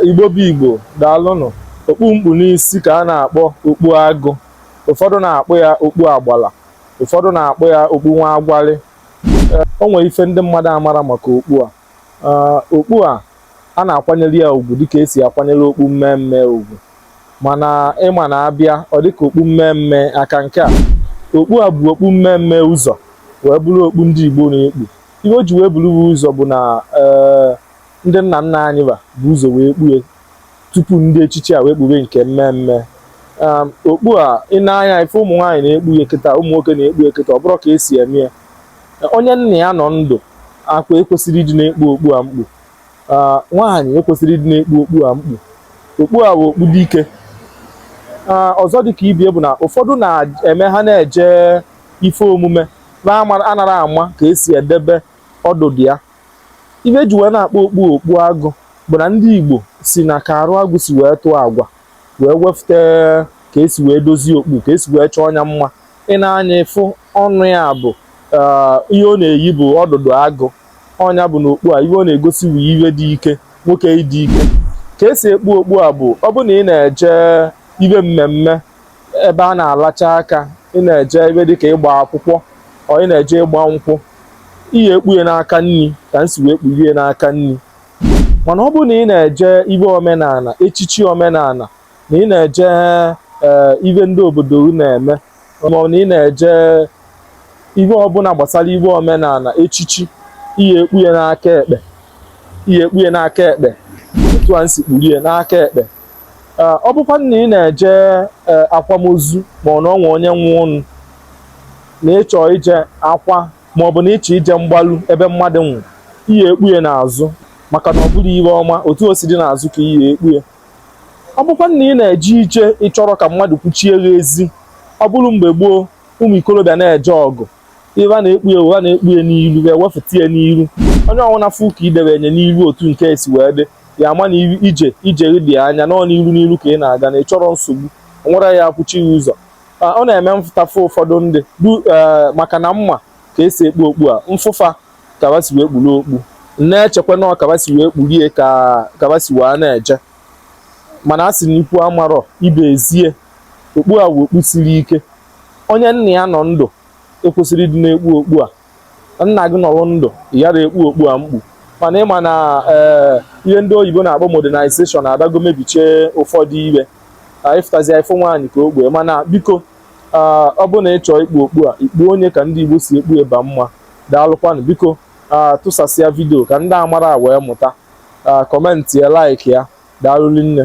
Igbo bụ Igbo, daalụnụ. Okpu m kpu n'isi ka a na-akpọ okpu agụ. Ụfọdụ na-akpọ ya okpu agbala. Ụfọdụ na-akpọ ya okpu nwa agwalị. O nwere ife ndị mmadụ amara maka okpu a. Okpu a, a na-akwanyere ya ugwu dịka esi akwanyere okpu mme mme ugwu. Mana ị ma na a bịa, ọ dịka okpu mme mme aka nke a. Okpu a bu okpu mme mme ụzọ wee bụrụ okpu ndị Igbo na-ekpu. Ihe o ji wee buru ụzọ bụ na ee ndị nna nna anyị ba bu ụzọ wee kpue tupu ndị echichi a wee kpube nke mme mme um, okpu a ị nee anya ị fụ ụmụ nwaanyị na-ekpu ya kịta ụmụ nwoke na-ekpu ya kịta ọ bụrụ ka esi eme ya onye nna ya nọ ndụ aka ekwesịrị ịdị na-ekpu okpu a m kpu uh, nwaanyị ekwesịrị ịdị na-ekpu okpu a m kpu okpu a bụ okpu dike uh, ọzọ dị ka ibie bụ na ụfọdụ na-eme ha na-eje ife omume anara ama ka esi edebe ọdụdụ ya ibe e ji wee na-akpọ okpu okpu agụ bụ na ndị Igbo si na ka arụ agụ si wee tụọ agwa wee wefute ka esi wee dozie okpu ka esi wee chọọ nya mma ị nee anya ị fụ ọnụ ya bụ eh, ihe ọ na-eyi bụ ọdụdụ agụ ọ nya bụ na okpu a ihe ọ na-egosi bụ ibe dị ike nwoke ịdị ike ka esi ekpu okpu a bụ ọ bụ na ị na-eje ibe mmemme ebe a na-alacha aka ị na-eje ebe dịka ịgba akwụkwọ or ị na-eje ịgba nkwụ i ye-ekpu ye n'aka nni ka m si wee kpurie n'aka nni mana ọ bụrụ na ị na-eje ibe omenala echichi omenala na ị na-eje eh, ibe ndị obodo na-eme maọbụ na ị na-eje ibe ọbụla gbasara ibe omenala echichi i ye-ekpu ye n'aka ekpe i ye-ekpu ye n'aka ekpe otu a m si kpurie n'aka ekpe Ee, ọ bụkwanụ na ị na-eje ee, akwamozu ma ọ na o nwe onye nwụnụ na ị chọ ije akwa ma ọ bụ na ị chọ ije mgbalu ebe mmadụ nwụ i ye-ekpu ye n'azụ maka na ọ bụrọ ihe ọma otu o si dị n'azụ ka i ye-ekpu ye ọ bụkwanụ na ị na-eje ije ị chọrọ ka mmadụ kwụchie gị ezi ọ bụrụ mgbe gboo ụmụ ikorobịa na-eje ọgụ ibe a na-ekpu ye wụ a na-ekpu ya n'iru e wefụta ya n'iru onye ọwụna fụ ka i debene ye n'iru otu nke a si wee dị ya ama na ije i je dị anya na ọ n'iru n'iru ka ị na-aga na ị chọrọ nsogbu nwere ya akwụchi ya ụzọ ọ na-eme m fụta fụ ụfọdụ ndị du e, maka na m ma ka esi ekpu okpu a m fụ fa ka ba si wee kpuru okpu na-echekwa na ọ ka ba si wee kpurie ka ba si wee na-eje mana a sị na ikwu amarọ ibe ezie okpu a wụ okpu siri ike onye nna ya nọ ndụ ekwesịrọ ịdị na-ekpu okpu a nna gị nọrọ ndụ ị yara ekpu okpu a mkpu mana ị ma na eh, ihe ndị oyibo na-akpọ modernization adago mebichie ụfọdụ ihe ị fụtazịa ị fụ nwaanyị ka o kpu ya mana biko ah, ọ bụ na ị chọọ ikpu okpu a i kpuo ya ka ndị igbo si ekpu eba mma daalụkwanụ biko ah, tụsasịa vidio ka ndị amarọ wee mụta kọmentị ya laiki ya daalụ rinne